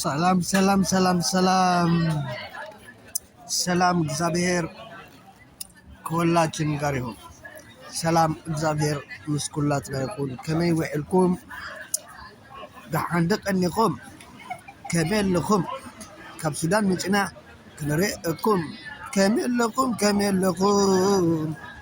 ሰላም ሰላም ሰላም ሰላም ሰላም እግዚአብሔር ከወላችን ጋር ይሁን። ሰላም እግዚአብሔር ምስ ኩላትና ይኹን። ከመይ ውዕልኩም? ደሓን ደቀኒኹም? ከመይ ኣለኹም? ካብ ሱዳን ምጭና ክንርእየኩም ከመይ ኣለኹም? ከመይ ኣለኹም?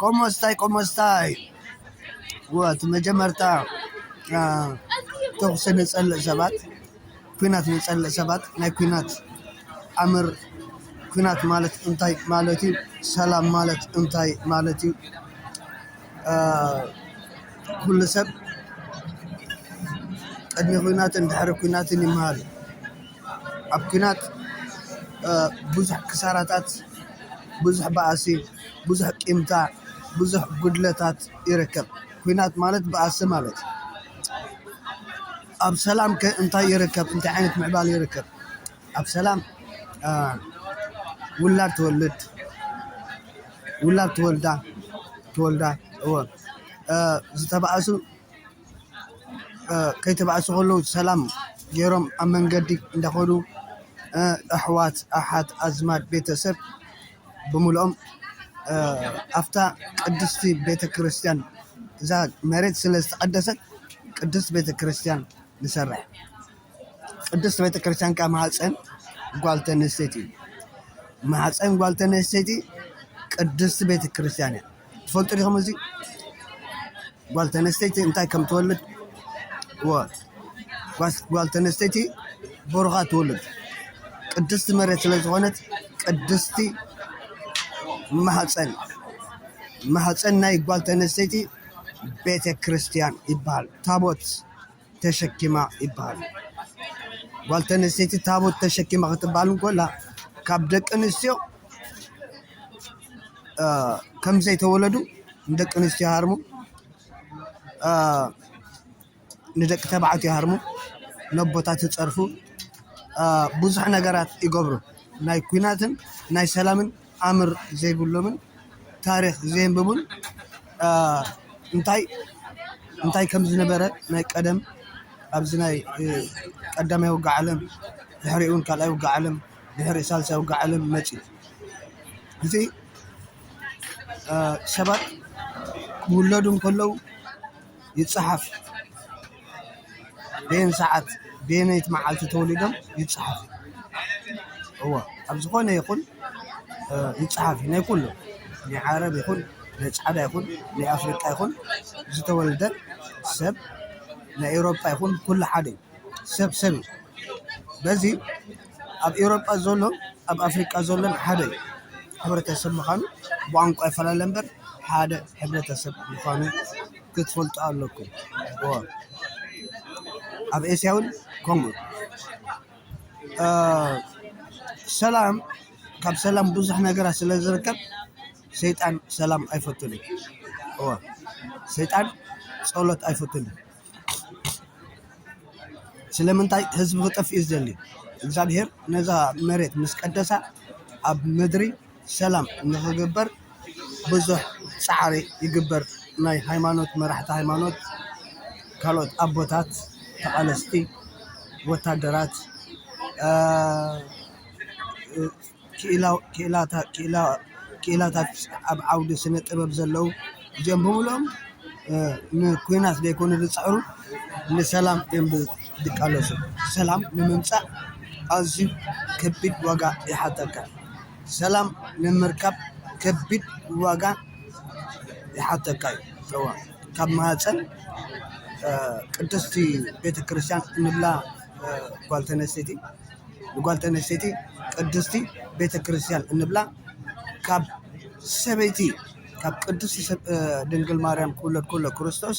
ቆሞስታይ ቆሞስታይ እቲ መጀመርታ ተኹሲ ንፀልእ ሰባት ኲናት ንፀልእ ሰባት ናይ ኲናት ኣምር ኲናት ማለት እንታይ ማለት እዩ? ሰላም ማለት እንታይ ማለት እዩ? ኩሉ ሰብ ቅድሚ ኲናትን ድሕሪ ኲናትን ይመሃር እዩ። ኣብ ኲናት ብዙሕ ክሳራታት ብዙሕ ባእሲ ብዙሕ ቂምታ ብዙሕ ጕድለታት ይርከብ ኲናት ማለት ባእሲ ማለት ኣብ ሰላም ከ እንታይ ይርከብ እንታይ ዓይነት ምዕባለ ይርከብ ኣብ ሰላም ውላድ ትወልድ ውላድ ትወልዳ ትወልዳ እወ ዝተባእሱ። ከይተባእሱ ከለዉ ሰላም ጌሮም ኣብ መንገዲ እንዳኸዱ ኣሕዋት፣ ኣሓት፣ ኣዝማድ፣ ቤተሰብ ብምልኦም ኣፍታ ቅድስቲ ቤተ ክርስቲያን እዛ መሬት ስለ ዝተቐደሰት ቅድስት ቤተ ክርስቲያን ንሰርሕ። ቅድስት ቤተ ክርስቲያን ካብ ማህፀን ጓል ተነስተይቲ እዩ። ማህፀን ጓል ተነስተይቲ ቅድስት ቤተ ክርስቲያን እያ። ትፈልጡ ዲኹም እዚ ጓል ተነስተይቲ እንታይ ከም ትወልድ ጓል ተነስተይቲ ብሩኻ ትውልድ ቅድስቲ መሬት ስለ ዝኾነት ቅድስቲ ማህፀን ማህፀን ናይ ጓል ተነስተይቲ ቤተ ክርስቲያን ይበሃል ታቦት ተሸኪማ ይበሃል። ጓል ተነስተይቲ ታቦት ተሸኪማ ክትበሃል እንኮላ ካብ ደቂ ኣንስትዮ ከም ዘይተወለዱ ንደቂ ኣንስትዮ ሃርሙ ንደቂ ተባዕትዮ ሃርሙ ነቦታት ይፀርፉ ብዙሕ ነገራት ይገብሩ ናይ ኩናትን ናይ ሰላምን ኣምር ዘይብሎምን ታሪኽ ዘየንበቡን እንታይ እንታይ ከም ዝነበረ ናይ ቀደም ኣብዚ ናይ ቀዳማይ ውግእ ዓለም ድሕሪኡ ውን ካልኣይ ውግእ ዓለም ድሕሪኡ ሳልሳይ ውግእ ዓለም መጺኡ እዚ ሰባት ክውለዱ እንከለዉ ይጸሓፍ በየን ሰዓት በየነይቲ መዓልቲ ተወሊዶም ይፀሓፍ እዩ። እወ ኣብ ዝኾነ ይኹን ይፀሓፍ እዩ። ናይ ኩሉ ናይ ዓረብ ይኹን ናይ ፃዕዳ ይኹን ናይ ኣፍሪቃ ይኹን ዝተወልደ ሰብ ናይ ኤውሮጳ ይኹን ኩሉ ሓደ እዩ። ሰብ ሰብ እዩ። በዚ ኣብ ኤውሮጳ ዘሎን ኣብ ኣፍሪቃ ዘሎን ሓደ እዩ። ሕብረተሰብ ምዃኑ ብቋንቋ ይፈላለ እምበር ሓደ ሕብረተሰብ ምዃኑ ክትፈልጡ ኣለኩም ኣብ ኤስያ ውን ከምኡ ሰላም ካብ ሰላም ብዙሕ ነገራት ስለ ዝርከብ ሰይጣን ሰላም ኣይፈቱን እዩ እወ ሰይጣን ጸሎት ኣይፈቱን እዩ ስለምንታይ ህዝቢ ክጠፍእ እዩ ዝደሊ እግዚኣብሄር ነዛ መሬት ምስ ቀደሳ ኣብ ምድሪ ሰላም ንክግበር ብዙሕ ፃዕሪ ይግበር ናይ ሃይማኖት መራሕቲ ሃይማኖት ካልኦት ኣቦታት ተቃለስቲ ወታደራት ክኢላታት ኣብ ዓውዲ ስነ ጥበብ ዘለዉ እዚኦም ብምልኦም ንኩናት ዘይኮኑ ዝፅዕሩ ንሰላም እዮም። ድቃለሱ ሰላም ንምምጻእ ኣዝዩ ከቢድ ዋጋ ይሓተካ። ሰላም ንምርካብ ከቢድ ዋጋ ይሓተካ እዩ። እወ ካብ ማህጸን ቅድስቲ ቤተክርስትያን እንብላ ጓል ተነስተይቲ ንጓል ተነስተይቲ ቅድስቲ ቤተክርስትያን እንብላ ካብ ሰበይቲ ካብ ቅድስቲ ድንግል ማርያም ክውለድ ከሎ ክርስቶስ